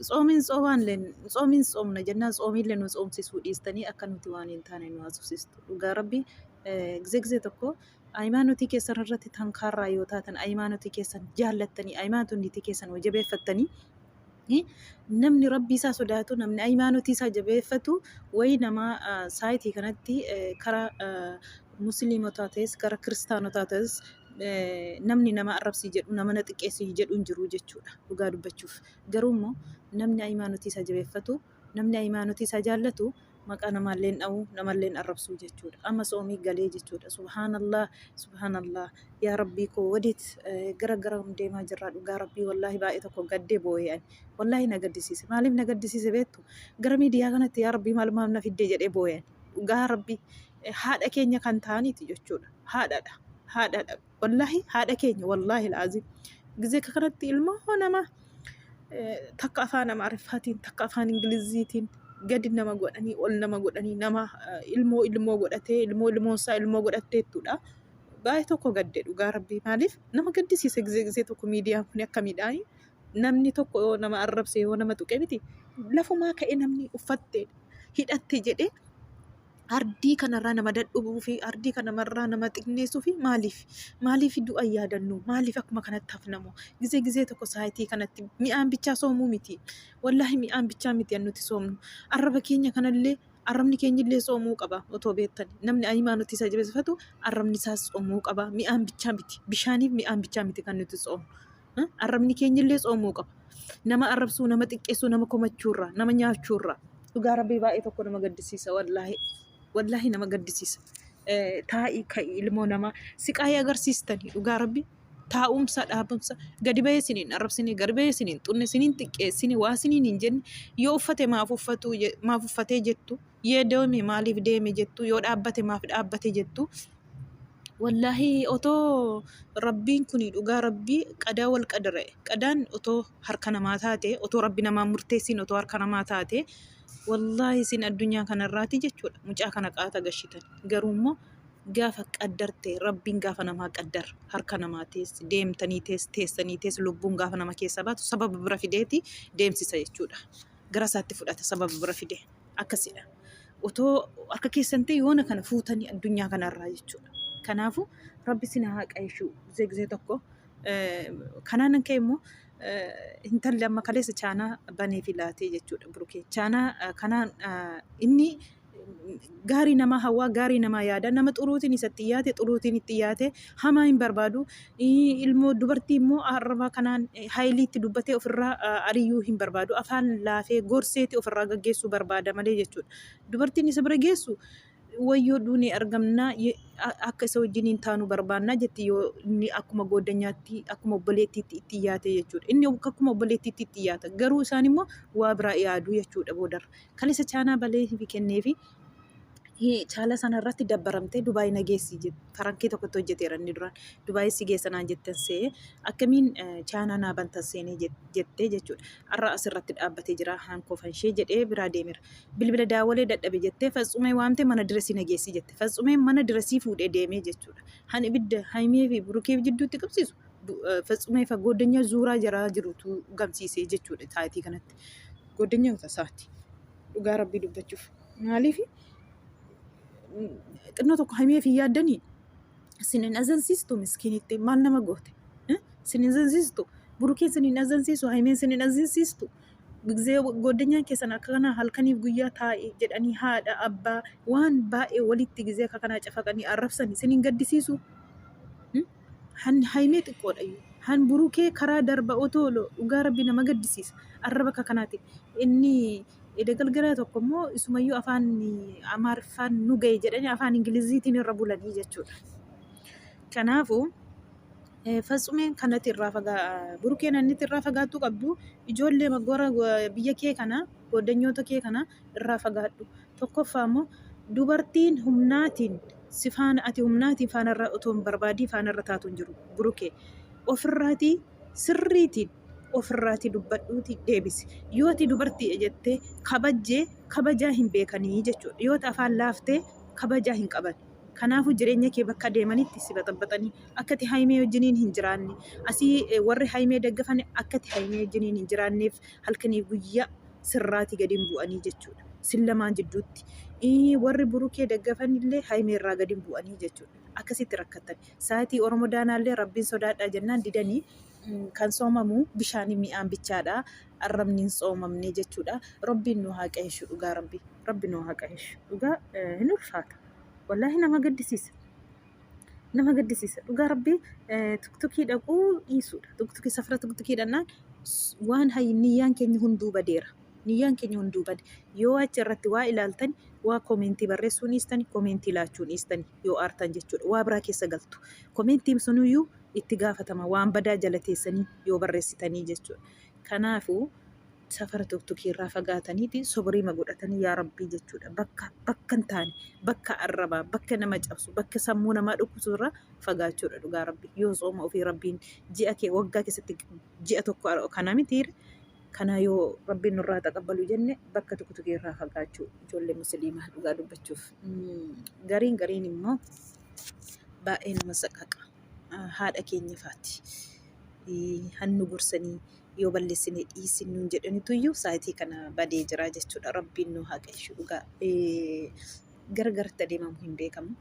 Tsoomiin tsoomaalleen tsoomiin tsoomna jennaan tsoomiillee nu tsoomsisuu dhiistanii akka nuti waan hin taane nu haasofsiistu. Dhugaa rabbi gizee gizee tokko ayimaanotii keessan irratti tankaarraa yoo taatan ayimaanotii keessan jaallattanii ayimaanotii keessan yoo jabeeffattanii eh, namni rabbii isaa sodaatu namni ayimaanotii isaa jabeeffatu wayii nama ah, saayitii kanatti eh, karaa ah, musliimotaa ta'es karaa kiristaanotaa ta'es namni nama arrabsii jedhu nama na xiqqeessii jedhu hin jiru jechuudha dhugaa dubbachuuf garuu immoo namni ayimaanotii isaa jabeeffatu namni ayimaanotii isaa jaallatu maqaa namaalleen dha'u namaalleen arrabsuu jechuudha amma soomii galee jechuudha subhaanallah subhaanallah yaa rabbii koo wadiit gara gara deemaa jirraa dhugaa rabbii wallaahi baay'ee tokko gaddee boo'ee ani wallaahi na gaddisiise maaliif na gaddisiise beektu gara miidiyaa kanatti yaa rabbii maal maal na fiddee jedhee boo'ee ani. dhugaa rabbi haadha keenya kan ta'aniiti jechuudha haadhaadha haadhaadha wallaahi haadha keenya wallaahi laaziim gizee akka kanatti ilmoo nama takka afaan amaariffaatiin takka afaan ingiliziitiin gadi nama godhanii ol nama godhanii nama ilmoo ilmoo godhatee ilmoo ilmoo isaa ilmoo godhattee jechuudha. Baay'ee tokko gadde dhugaa rabbii maaliif nama gaddisiisa gizee gizee tokko miidiyaan kun akka miidhaanii namni tokko yoo nama arrabse yoo nama tuqe miti lafumaa ka'e namni uffatte hidhatte jedhee ardii kanarraa nama dadhubuu fi ardii kanarraa nama xinneessuu fi maaliif maaliif du'a yaadannu maaliif akkuma kanatti hafnamu gizee gizee tokko saayitii kanatti mi'aan bichaa soomuu miti wallaahi mi'aan bichaa miti an nuti soomnu arraba keenya kanallee arrabni keenyillee soomuu qaba otoo beektan namni ayimaa nuti isa jabeeffatu arrabni isaas soomuu qaba mi'aan bichaa miti bishaaniif mi'aan bichaa miti kan nuti soomnu. Arrabni keenya illee tsoomuu qaba. Nama arrabsuu, nama xiqqeessuu, nama komachuu irraa, nama nyaachuu irraa. Dhugaa rabbii baay'ee tokko nama gaddisiisa wallaahi. Wallaahi nama gaddisiisa. Eh, Taa'ii ka'ii ilmoo namaa siqaayii agarsiistanii dhugaa rabbii. Taa'umsa, dhaabumsa, gadi bahee isiniin arrabsine, gadi bahee isiniin xunne, isiniin xiqqeessine, waa isiniin hin jenne, yoo uffate maaf uffatuu je- maaf uffatee jettu. Yoo deeme maaliif deeme jettu, yoo dhaabbate maaf dhaabbate jettu. Wallaahi otoo Rabbiin kun dhugaa Rabbii qadaa wal qadare. Qadaan otoo harka namaa taate, otoo Rabbi namaan murteessiin otoo harka namaa taate, wallaahi isin addunyaa kanarraati jechuudha mucaa kana qaata gashitan. Garuu immoo gaafa qaddarte Rabbiin gaafa namaa qaddar harka namaa tees deemtanii tees teessanii tees lubbuun gaafa nama keessa baatu sababa bira fideeti deemsisa jechuudha. Gara isaatti fudhata sababa bira fidee. akkasidha. Otoo akka keessan ta'e yoona kana fuutanii addunyaa kanarraa jechuudha. Kanaafuu rabbi isin haa qaishuu gizee gizee tokko. Kanaanan ka'e immoo intalli amma kaleessa chaanaa banee fi laatee jechuudha burukee. Chaanaa kanaan inni gaarii namaa hawaa gaarii namaa yaada nama xuruutiin isatti yaate xuruutiin itti yaate hamaa hin barbaadu. Ilmoo dubartii immoo arraba kanaan haylii itti dubbatee ofirraa ariyyuu hin barbaadu. Afaan laafee gorseeti ofirraa gaggeessuu barbaada malee jechuudha. Dubartiin isa bira geessu wayyoo duunee argamnaa akka isa wajjin hin taanu barbaannaa jetti yoo inni akkuma gooddanyaatti akkuma obboleettiitti itti yaate jechuudha. Inni akkuma obboleettiitti itti yaata. Garuu isaan immoo waa biraa yaadu jechuudha boodarra. Kan isa chaanaa balee fi kennee fi Chaala sana irratti dabbaramtee Dubaay na geessi jette. Farankii tokkotti hojjeteera inni duraan. Dubaay si geessa naan jetten se'ee akkamiin chaanaa naa bantan seenee jettee jechuudha. Har'a asirratti dhaabbatee jira haankoo fanshee jedhee biraa deemeera. Bilbila daawwalee dadhabe jettee fatsumee waamtee mana diresii na geessi jette. Fatsumee mana diresii fuudhee deemee jechuudha. Han ibidda haymee fi burukee jidduutti qabsiisu fatsumee fa gooddanyaa zuuraa jaraa jirutu gamsiisee jechuudha taayitii kanatti. Gooddanyaa isaati. dhugaa rabbii dubbachuuf maaliif xinnoo tokko hamiif hin yaaddanii sin hin azansiistu miskiinitti maal nama goote Eh? sin hin azansiistu burukeen sin hin azansiisu hamiin sin hin azansiistu ጊዜ ጓደኛ keessan akka kana halkaniif guyyaa taa'e jedhanii haadha abbaa waan baay'ee walitti ጊዜ akka kanaa cafaqanii arrabsan sin hin gaddisiisu Hmm? Han haymee xiqqoodhayyuu. Han burukee karaa darba otoo dhugaa rabbi nama gaddisiisa. Arra bakka kanaatiin. Inni eda galgalaa tokko immoo isumayyuu afaan amaariffaan nu ga'e jedhanii afaan ingiliziitiin irra bulanii jechuudha. Kanaafuu eh, fatsumeen kanatti irraa fagaa burukeen annitti irraa fagaattuu qabdu ijoollee magora biyya kee kana goddanyoota kee kana irraa fagaadhu. Tokkoffaa immoo dubartiin humnaatiin si faana ati humnaatiin faana irra otoo hin barbaadii faana irra taatu hin jiru burukee ofirraatii sirriitiin ofirraatii dubbadhuuti deebisi yoo ati dubartiidha jettee kabajjee kabajaa hin beekanii jechuudha yoo ati afaan laaftee kabajaa hin qaban kanaafuu jireenya kee bakka deemanitti si baxabaxanii akka ati haymee wajjiniin hin jiraanne asii eh, warri haymee daggafan akka ati haymee wajjiniin hin jiraanneef halkaniif guyyaa sirraati gadi hin bu'anii jechuudha. Sin lamaan jidduutti. Ii, Warri burukee daggafan illee haymee irraa gadi hin bu'anii jechuudha. Akkasitti rakkatan. Saatii Oromoo daanaa illee rabbiin sodaadhaa jennaan didanii mm, kan soomamu bishaanii mi'aan bichaadha. Arrabni hin soomamne jechuudha. Rabbiin nu haa qahishu dhugaa rabbi. Rabbi nu haa qahishu. Dhugaa eh, hin ulfaata. Wallaahi nama gaddisiisa. nama gaddisiisa dhugaa rabbii tuktukii dhaquu dhiisuudha tuktukii safara tuktukii dhannaan waan hayyi niyyaan keenya hunduu badeera niyyaan keenya hunduu bade yoo achi irratti waa ilaaltan waa koomeentii barreessuun dhiistan koomeentii laachuun dhiistan yoo aartan jechuudha waa biraa keessa galtu koomeentiin sunuyyuu itti gaafatama waan badaa jala teessanii yoo barreessitanii jechuudha Kanaafu, safara tuktukii irraa fagaataniiti sobriima godhatanii yaa Rabbii jechuudha. Bakka bakka hin taane, bakka arrabaa, bakka nama cabsu, bakka sammuu namaa dhukkusu irraa fagaachuudha dhugaa Rabbii. Yoo sooma ofii Rabbiin ji'a kee waggaa keessatti ji'a tokko ara- kana miti kana yoo Rabbiin nurraa taqabbalu jenne bakka tuktukii irraa fagaachuu ijoollee musliimaa dhugaa dubbachuuf. Mm, Gariin gariin immoo baay'ee nama saqaqa. haadha keenya faati. Hannu gorsanii yoo balleessine dhiisin nuun jedhanituyyuu saayitii kana badee jira jechuudha. Rabbiin nu haa qajeelchu dhugaa. Gargaritti adeemamu hin beekamu.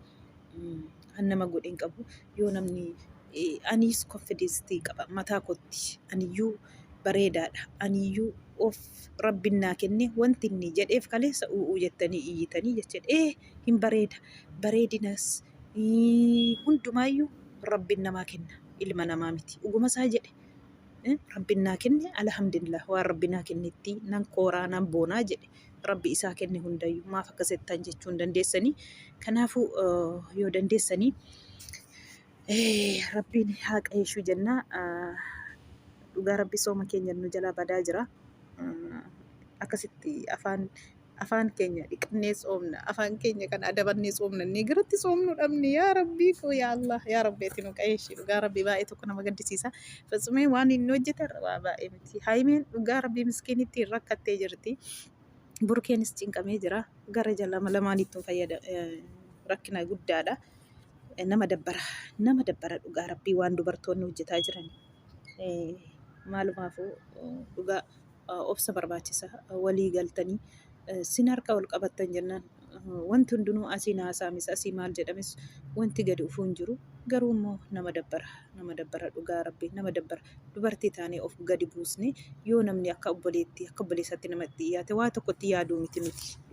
Kan nama godhe hin qabu. Yoo namni aniis konfideensii qaba mataa kootti. Aniyyuu bareedaadha. Aniyyuu of rabbiin naa kenne wanti inni jedheef kaleessa u'uu jettanii iyyitanii jechuudha. Ee hin bareeda. Bareedinas Hundumaayyuu rabbiin namaa kenna ilma namaa miti dhuguma isaa jedhe rabbiin naa kenne alhamdulillah waan rabbi naa kennetti nan kooraa nan boonaa jedhe rabbi isaa kenne hundayyuu maaf akka settan jechuu hin dandeessanii kanaafuu yoo dandeessanii rabbiin haa qajeeshuu jennaa dhugaa rabbi sooma keenya nu jalaa badaa jira akkasitti afaan afaan keenya dhiqannee tsoomna afaan keenya kan adabannee tsoomna inni garatti tsoomnu dhabne yaa rabbii koo yaa allah yaa rabbi ati nu qayeeshii dhugaa rabbii baay'ee tokko nama gaddisiisa fatsumeen waan inni hojjete irraa baay'ee miti haayimeen dhugaa rabbii miskiinittii hin rakkattee jirti burkeenis cinqamee jira gara jalama lamaaniittuu fayyada rakkina guddaadha nama dabbara nama dabbara dhugaa rabbii waan dubartoonni hojjetaa jiran maalumaafuu dhugaa obsa barbaachisa walii galtanii sin harka wal qabattan jennaan wanti hundinuu asiin haasaamis asii maal jedhames wanti gadi dhufuu hin jiru garuu immoo nama dabbara nama dabbara dhugaa rabbi nama dabbara dubartii taanee of gadi buusne yoo namni akka obboleetti akka obboleessaatti nama itti dhiyaate waa tokkotti yaaduu miti nuti